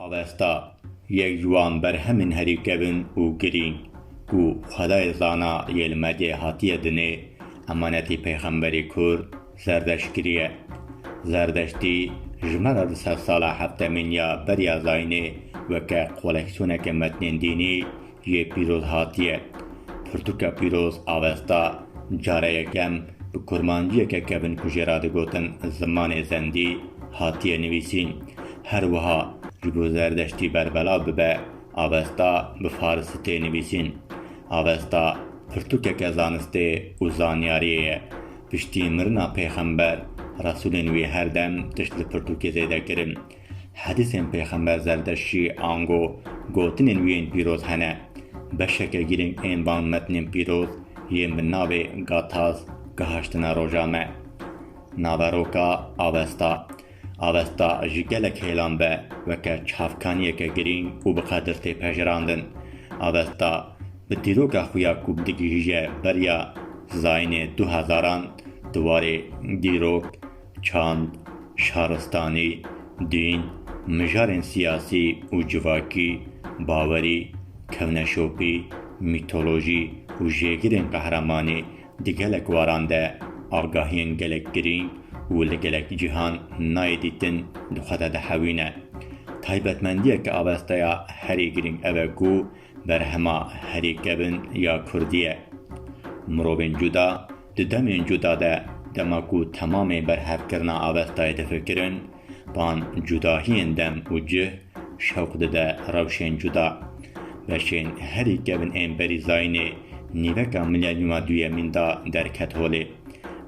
Avesta yek ji wan berhemên herî kevn û girîng ku xwedayê zana yê li medyayê hatiye dinê, emanetî pêxemberî kurd Zerdeştgirî ye. Zerdeştî ji me re di sedsala heftemîn ya beriya zayînê weke koleksiyoneke metnên dînî, Yê pîroz hatiye. Pirtûka pîroz a westa care yekem bi kurmanciyeke kevin ku jê re digotin zimanê zendî hatiye nivîsîn. Her wiha ji bo Zerdeştî berbelav bibe a westa bi farisî tê nivîsîn. A westa pirtûkeke zanistê û zanyariyê ye. Piştî mirina pêxember, resûlên wî her dem tişt li pirtûkê zêde kirin. Hedîsên Pêxember Zerdeştî ango gotinên wî yên pîroz hene. Beşeke girîng ên van metnên pîroz yên bi navê Gathas gihiştine roja me. Naveroka Avesta Avesta ji gelek hêlan ve weke çavkaniyeke girîng û bi qedir tê pejirandin. Avesta bi dîroka xwe ya ku digihîje beriya zayînê du hezaran di warê dîrok, Çand, şaristanî, dîn, mijarên siyasî û civakî, bawerî, kevneşopî, mîtolojî û jêgirên qehremanî di gelek waran de agahiyên gelek girîng û li gelek cîhan nayê dîtin di xwe de dihewîne. Taybetmendiyeke avesteya herî girîng ev e ku berhema herî kevn ya kurdî ye. Mirovên cuda Di demên cuda de, dema ku temamê berhevkirina avestayê difikirin, van cudahiyên dem û cih şewq dide rewşên cuda. Beşên herî kevn ên berî zayînê nîveka milenyûma duyemîn de derket holê.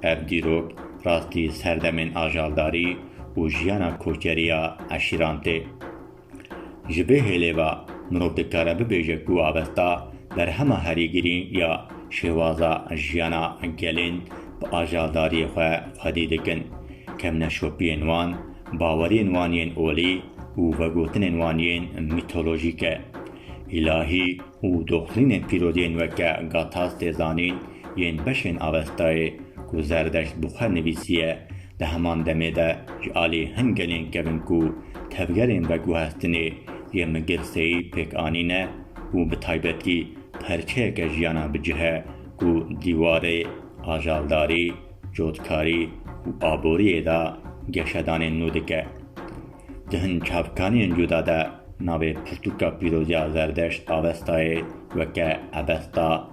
Ev dîrok rastî serdemên ajaldarî û jiyana koçerî ya eşîran tê. Ji vê hêlê ve mirov dikare bibêje ku avesta berhema herî girîng ya şêwaza jiyana gelên bi ajaldariyê xwe xwedî dikin, kevneşopiyên wan, baweriyên wan yên olî û vegotinên wan yên mîtolojîk e. Îlahî û doxlînên pîroziyên weke Gathas tê zanîn Yên beşên Avestayê ku Zerdeşt bi xwe nivîsiye, di heman demê de ji alî hin gelên kevin ku tevgerên veguhestinê yê Migir Seyî pêk anîne û bi taybetî perçeyeke jiyana bi cih e ku dîwarê ajaldarî, cotkarî û aboriyê de geşedanên nû dike. Di hin çavkaniyên cuda de navê pirtûka pîroziya Zerdeşt Avestayê weke Avesta,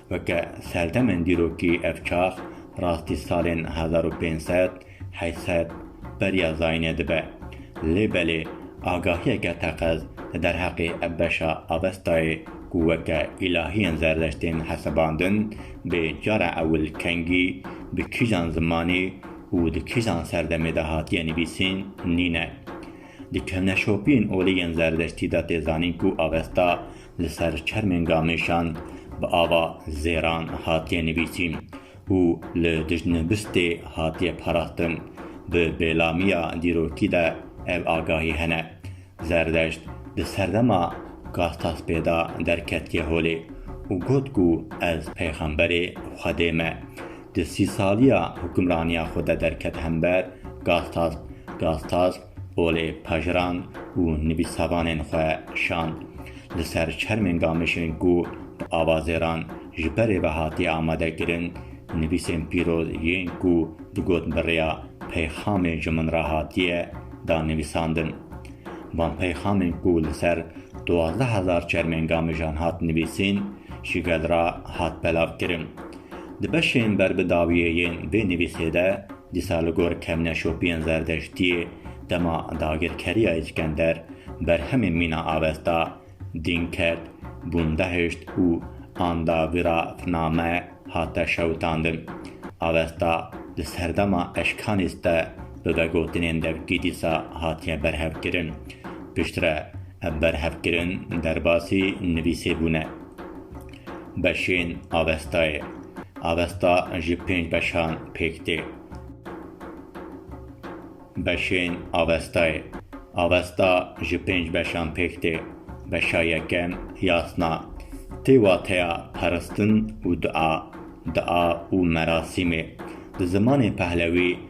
Weke serdemên dîrokî ev çax rastî salên hezar û pênc sed, heşt sed beriya zayînê dibe. Lê belê agahiyeke teqez li derheqê ev beşa avestayê ku weke îlahiyên zerdest tên hesibandin, bê cara ewil kengî bi kîjan zimanî û di kîjan serdemê de hatiye nivîsîn nîne. Di kevneşopiyên olî yên zerdestî de tê zanîn ku avesta li ser çermên gamêşan bi ava zêran hatiye nivîsîn û li dijnivistê hatiye parastin. Bi bêlamiya dîrokî de ev agahî hene. Zerdeşt di serdema Gastaspê de derketiye holê û got ku ez peyxemberê Xwedê me. Di sî saliya hukimraniya xwe de derket hember Gastasp, Gastasp, Olê pejirand û nivîsavanên xwe şand li ser çermên gamişên ku bi avazêran ji berê ve hatiye amade kirin, nivîsên pîroz yên ku digot bi rêya peyxamê ji min re hatiye da nivîsandin. Van peyxamên ku li ser duwazdeh hezar çermên gamijan hat nivîsîn ji gel re hat belavkirin. Di beşên ber bi dawiyê yên vê nivîsê de, Dîsa li gor kevne şopiyên Zerdeştiyê dema dagirkeriya Îskender berhemên mîna avesta, dîn kerd, bûn behişt û anda vî ra finame hate şewitandin. Avesta di serdema eşkanîst de bi vegotinên devkî dîsa hatiye berhevkirin. Piştre ev berhevkirin derbasî nivîsê bûne. Beşên avestayê, avesta ji pênc beşan pêk tê. Beşên avestayê, avesta ji pênc beşan pêk tê. Beşa yekem, yasna, tê wateya peristin û dua, dua û merasîmê. Di zimanê pehlewî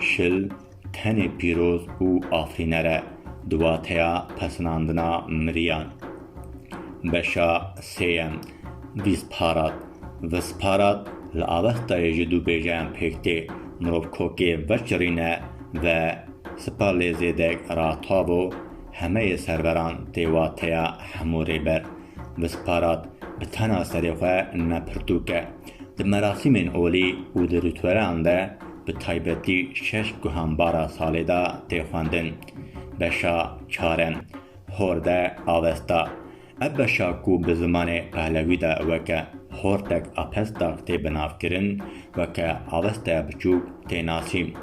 Şil tenê pîroz û afîner e di wateya pesinandina miriyan. Beşa sêyem, Vîsparat, Visparat, li avestayê ji du bêjeyan pêk tê, mirov kokê veçirîne ve sipa lê zêdek ratavo, hemeyê serveran tê wateya hemû rêber. Visparat bi tena serê xwe ne pirtûk e. Di merasîmên olî û di rîtûelan de, Bi taybetî şeş guhanbara salê de tê xwendin. Beşa çar in. Horde, Avesta. Ev beşa ku bi zimanê Pehlewî de weke Hortek Apestak tê binavkirin, weke Avestaya Biçûk tê nasîn.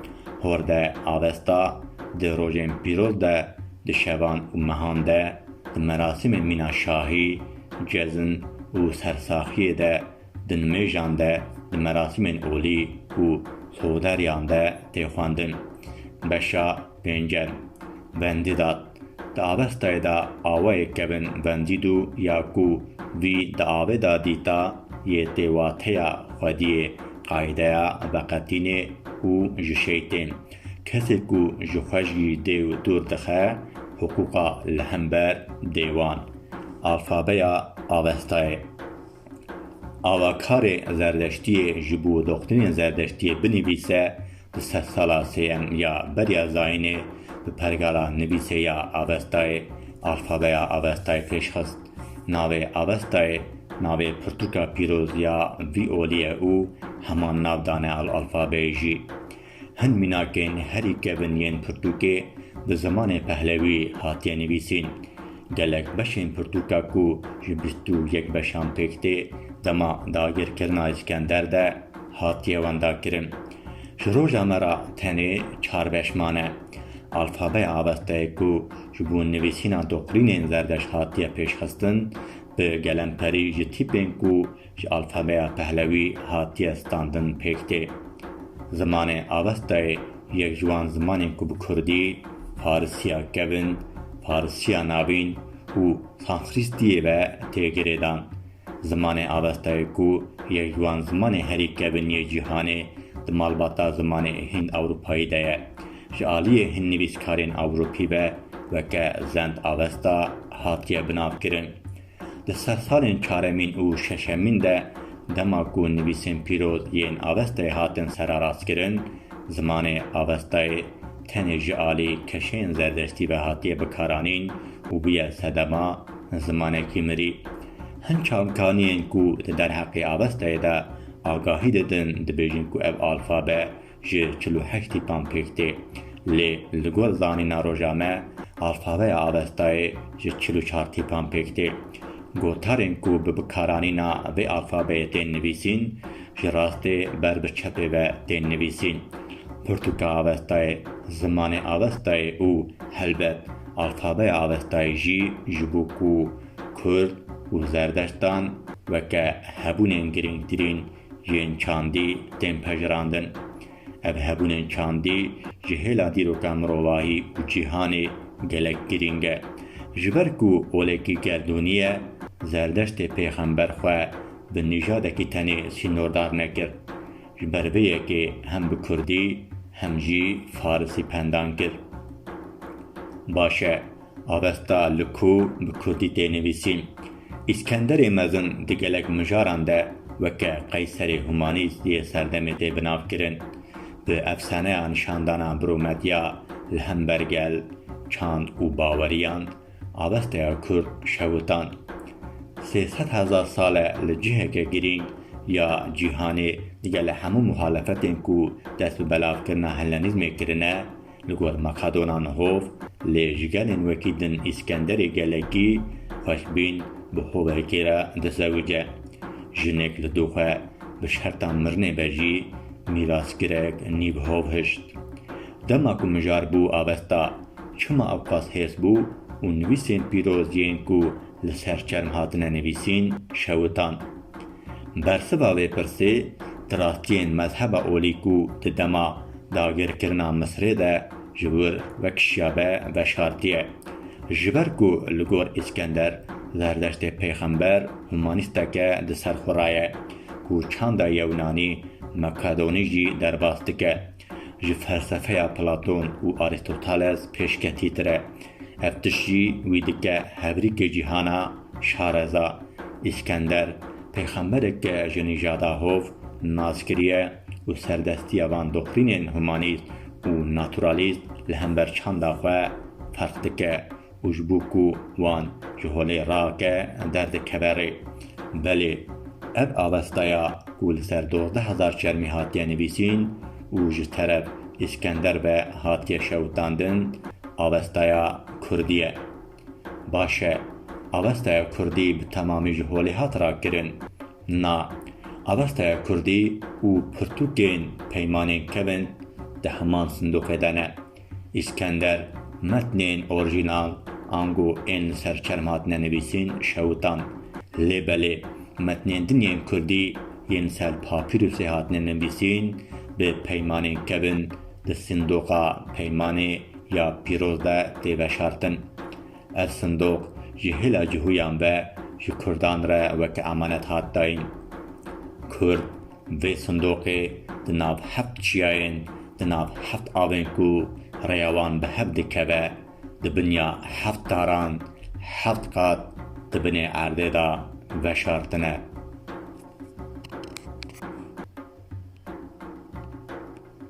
Horde, Avesta, di rojên pîroz de, di şevan û mehan de, di merasîmên mîna şahî, cezn û sersaxiyê de, Di nimêjan de, di merasîmên olî û sohuderiyan de tê xwendin. Beşa pêncem, Vendîdat, Di avestayê de awayê kevin Vendîdu ya ku vî di avê de dîta yê tê wateya xwediyê, qayîdeya veqetînê û ji şeytên. Kesê ku ji xweşgî dêw dûr dixe, hiqûqa li hember dêwan. Alfabeya avestayê. Avakarê Zerdeştiyê ji bo doxtrînên Zerdeştiyê binivîse di sedsala sêyem ya beriya zayînê bi pergala nivîsê ya Avestayê alfabeya Avestayê pêş xist. Navê Avestayê navê pirtûka pîroz ya vî olî ye û heman nav dane alfabeyê jî. Hin mînakên herî kevn yên pirtûkê bi zimanê pehlewî hatiye nivîsîn. Gelek beşên pirtûka ku ji bîst û yek beşan pêk tê, dema dagirkirina Îskender de hatiye wendakirin. Ji roja me re tenê çar beş mane. Alfabeya avesteyê ku ji bo nivîsîna doqrînên zerdeşt hatiye pêşxistin, bi gelemperî ji tîpên ku Ji alfabeya Pehlewî hatiye standin pêk tê. Zimanê Avestayê yek ji wan zimanên ku bi Kurdî, Farisiya Kevin, Farisiya Navîn û Sanskritiyê ve tê girêdan. Zimanê Avestayê ku yek ji wan zimanên herî kevin yê cîhanê di malbata zimanê Hind-Ewropayî de ye. Ji aliyê hin nivîskarên Ewropî ve weke Zend-Avesta hatiye binavkirin. Di sersalên çaremîn û şeşemîn de dema ku nivîsên pîroz yên avestayê hatin serarastkirin, zimanê avestayê tenê ji alî keşeyên zerdestî ve hatiye bikaranîn û bûye sedema zimanekî mirî. Hin çavkaniyên ku di derheqê avestayê de agahî didin dibêjin ku ev alfabe ji çil û heştî tam pêk tê, lê li gor zanîna roja me alfabeya Avestayê ji çil û çar tîpan pêk tê. Gotarên ku bi bikaranîna vê alfabeyê tên nivîsîn, ji rastê ber bi çepê ve tên nivîsîn. Pirtûka Avestayê, zimanê Avestayê û helbet alfabeya Avestayê jî ji bo ku Kurd û Zerdeştan weke hebûnên girîngtirîn Yên çandî tên pejirandin. Ev hebûnên çandî ji hêla dîroka mirovahî û cîhanê gelek girîng e. Ji ber ku olekî gerdûnî ye, Zerdeştê pêxember xwe bi nîjadekî tenê sînordar nekir. Ji ber vê yekê hem bi kurdî hem jî farisî pendan kir. Baş e. Avesta li ku bi kurdî tê nivîsîn. Îskenderê Mezin di gelek mijaran de weke Qeyserê Humanîs yê serdemê tê binavkirin. Bi efsaneya nîşandana Brûmedya li hember gel, çand û baweriyan, avesteya kurd şewitan. Sê sed hezar sal e li ciheke girîng ya cîhanê digele hemû muhalefetên ku dest bi belavkirina Hellenîzmê kirine, Li gor Makadonan hov lê ji gelên wekî din Îskenderê gelekî xweşbîn bi hovekê re dizewice. Jinek li doxwe bi şerta mirinê be jî mîrasgirek nîv hov hişt. Dema ku mijar bû avesta çima ew qas hêrs bû û nivîsên pîroz yên ku li ser çerm hatine nivîsîn şewitan. Bersiva vê pirsê, tirakiyên mezheba olî ku di dema dagirkirina Misirê de ji wir vekişiyabe veşartiye. Ji ber ku li gor Îskender Zerdeştê pêxember humanîstek e di ser xwe re ye, ku çanda Yewnanî, Makedonî jî derbas dike. ji felsefeya Platon û Arîstoteles pêşketîtir e. Ev tişt jî wî dike hevrîkê cîhana, şareza. Îskender, pêxemberek ke ji nîjada hov nas kiriye û serdestiya van dokrînên humanîst û naturalîst li hember çanda xwe ferq dike. û ji bo ku wan ji holê rake derdikeve rê. Belê ev avesteya ku li ser dozdeh hezar çermî hatiye nivîsîn û ji teref Îskender ve hatiye şewitandin, avesteya kurdî ye. Baş e, avesteya kurdî bi temamî ji holê hat rakirin? Na. Avesteya kurdî û pirtûkên peymanên kevin di heman sindoqê de ne. Îskender, metnên orîjînal ango ên li ser çerm hatine nivîsîn şewitan. Lê belê metnên din yên kurdî yên li ser papîrûsê hatine nivîsîn bi peymanên kevin di sindoqa peymanê ya pîroz de tê veşartin. Ev sindoq ji hêla cihûyan ve ji kurdan re weke emanet hat dayîn. Kurd Vê sindoqê di nav heft çiyayên, di nav heft avên ku rêya wan bi hev dikeve, di binya heft daran, heft qat di binê erdê de veşartine.